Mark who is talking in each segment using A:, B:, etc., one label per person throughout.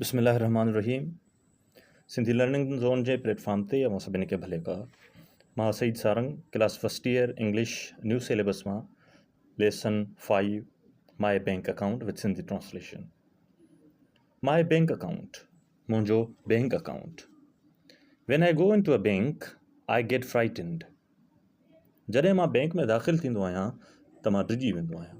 A: بسم الله الرحمٰن الرحيم سنڌي لرننگ زون جي پليٽ فارم تي اوهان سڀني کي ڀلي ڪا مان Saeed Sarang class first year English new syllabus مان lesson five my bank account with Sindhi translation my bank account منهنجو bank account when I go into a bank I get frightened جڏهن مان بينڪ ۾ داخل ٿيندو آهيان ته مان ڊڄي ويندو آهيان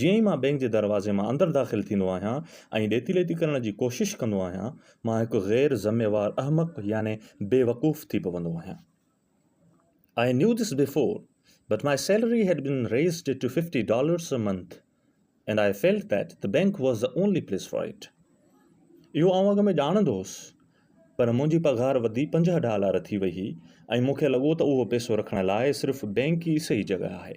A: جيئن ئي مان بئنڪ جي دروازي مان اندر داخل ٿيندو آهيان ۽ ڏيتي ليتي ڪرڻ جي ڪوشش ڪندو آهيان، مان هڪ غير ذميوار احمق يعني بيوقوف ٿي پوندو آهيان. I knew this before, but my salary had been raised to fifty dollars a month and I felt that the bank was the only place for it. اهو آئون اڳ ۾ ڄاڻندو هوس، پر منهنجي پگهار وڌي پنجاهه ڊالار ٿي وئي هئي ۽ مون کي لڳو ته اهو پئسو رکڻ لاء صرف بئنڪ ئي صحيح جڳهه آهي.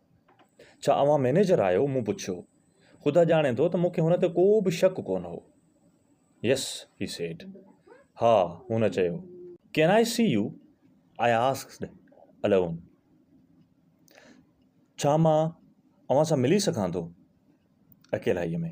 A: ڇا اوهان مئنيجر آهيو؟ مون پڇيو. خدا ڄاڻي ٿو ته مون کي هن تي ڪو به شڪ ڪونه هو. Yes، he said. ها، هن چيو. Can I see you؟ I asked alone. ڇا مان اوهان سان ملي سگهان ٿو؟ اڪيلائيء ۾.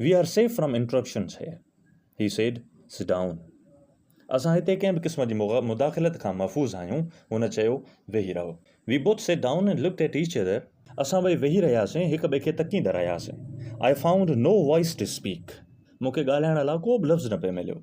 A: We are safe from interruptions here, he said, sit down. اسان هتي ڪنهن به قسم جي مداخلت کان محفوظ آهيون، هن چيو، ويهي رهو. We both sat down and looked at each other. اسان ٻئي ويهي رهياسين، هڪ ٻئي کي تڪيندا رهياسين. I found no voice to speak. مون کي ڳالهائڻ لاء ڪو به لفظ نه پئي مليو.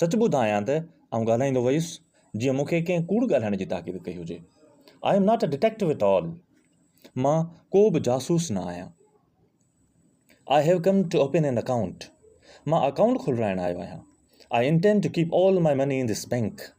A: سچ ٻڌايان ته آئون ڳالهائيندو ويس جيئن مون کي ڪنهن ڪوڙ ڳالهائڻ جي تاڪيد ڪئي هجي. I am not a detective at all. مان ڪو به جاسوس نه آهيان. I have come to open an account. مان اڪائونٽ کولرائڻ آيو آهيان. I intend to keep all my money in this bank.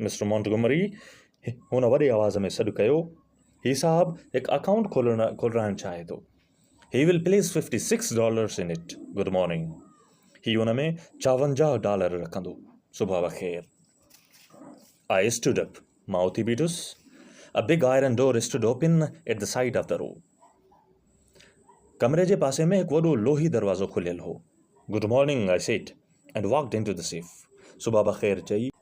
A: Mister Montgomery, هن وڏي آواز ۾ سڏ ڪيو، هي صاحب هڪ اڪائونٽ کولرائڻ چاهي ٿو. He will place fifty six dollars in it. Good morning. هي ان ۾ چاونجاهه ڊالر رکندو. صبح بخير. I stood up. مان اٿي بيٺس. A big iron door stood open at the side of the room. ڪمري جي پاسي ۾ هڪ وڏو لوهي دروازو کليل هو. Good morning, I said, and walked into the safe. صبح بخير چئي،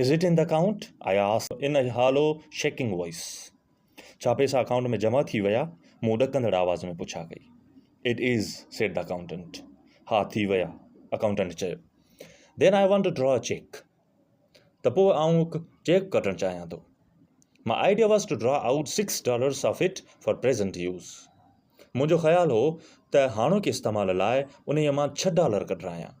A: is it in the account I asked in hollow shaking voice ڇا پئسا اڪائونٽ ۾ جمع ٿي ويا مون ڏڪندڙ آواز ۾ پڇا ڪئي it is said the accountant ها ٿي ويا اڪائونٽنٽ چيو then I want to draw a cheque ته پوء آئون هڪ چيڪ ڪٽڻ چاهيان ٿو my idea was to draw out six dollars of it for present use منهنجو خيال هو ته هاڻوڪي استعمال لاء انهيء مان ڇهه ڊالر ڪڍرايان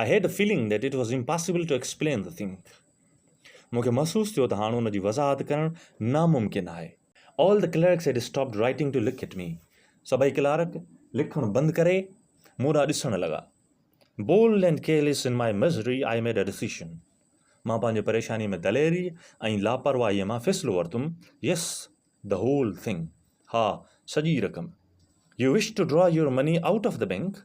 A: I had a feeling that it was impossible to explain the thing مون کي محسوس ٿيو ته هاڻ ان جي وضاحت ڪرڻ ناممڪن آهي. All the clerks had stopped writing to look at me سڀئي ڪلارڪ لکڻ بند ڪري مون ڏانهن ڏسڻ لڳا. Bold and careless in my misery I made a decision مان پنهنجي پريشاني ۾ دليري ۽ لاپرواهيء مان فيصلو ورتم يس دي هول ٿنگ ها سڄي رقم you wish to draw your money out of the bank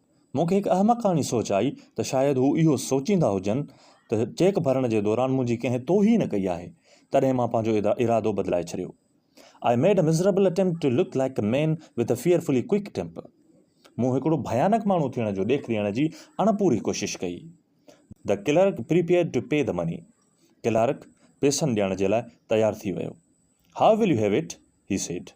A: مون کي هڪ احمقاڻي سوچ آئي ته شايد هو اهو سوچيندا هجن ته چيڪ ڀرڻ جي دوران منهنجي ڪنهن توهين ڪئي آهي، تڏهن مان پنهنجو ارادو بدلائي ڇڏيو. I made a miserable attempt to look like a man with a fearfully quick temper. مون هڪڙو ڀيانڪ ماڻهو ٿيڻ جو ڏيک ڏيڻ جي اڻپوري ڪوشش ڪئي. The clerk prepared to pay the money. Clerk پيسن ڏيڻ جي لاء تيار ٿي ويو. How will you have it? he said.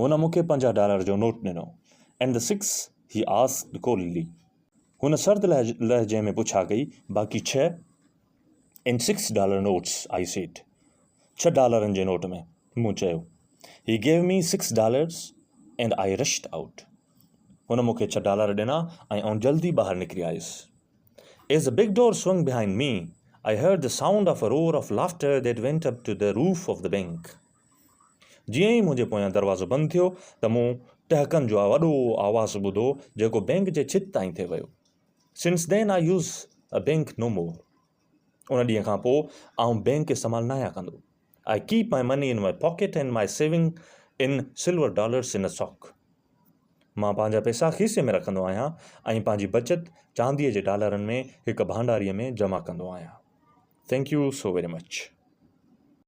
A: هن مون کي پنجاهه ڊالر جو نوٽ ڏنو. And the six? He asked coldly. هن سرد لهجي ۾ پڇا ڪئي، باقي ڇهه؟ In six dollar notes, I said. ڇهه ڊالرن جي نوٽ ۾، مون چيو. He gave me six dollars and I rushed out. هن مون کي ڇهه ڊالر ڏنا ۽ آئون جلدي ٻاهر نڪري آيس. As the big door swung behind me, I heard the sound of a roar of laughter that went up to the roof of the bank. جيئن ئي منهنجي پويان دروازو بند ٿيو ته مون ٽهڪن جو وڏو آواز ٻڌو جيڪو بئنڪ جي ڇت تائين ٿي ويو. Since then I use a bank no more. ان ڏينهن کان پوء آئون بئنڪ استعمال ناهيان ڪندو. I keep my money in my pocket and my saving in silver dollars in a sock. مان پنهنجا پئسا کيسي ۾ رکندو آهيان ۽ پنهنجي بچت چانديء جي ڊالرن ۾ هڪ ڀانڊاري ۾ جمع ڪندو آهيان. Thank you so very much.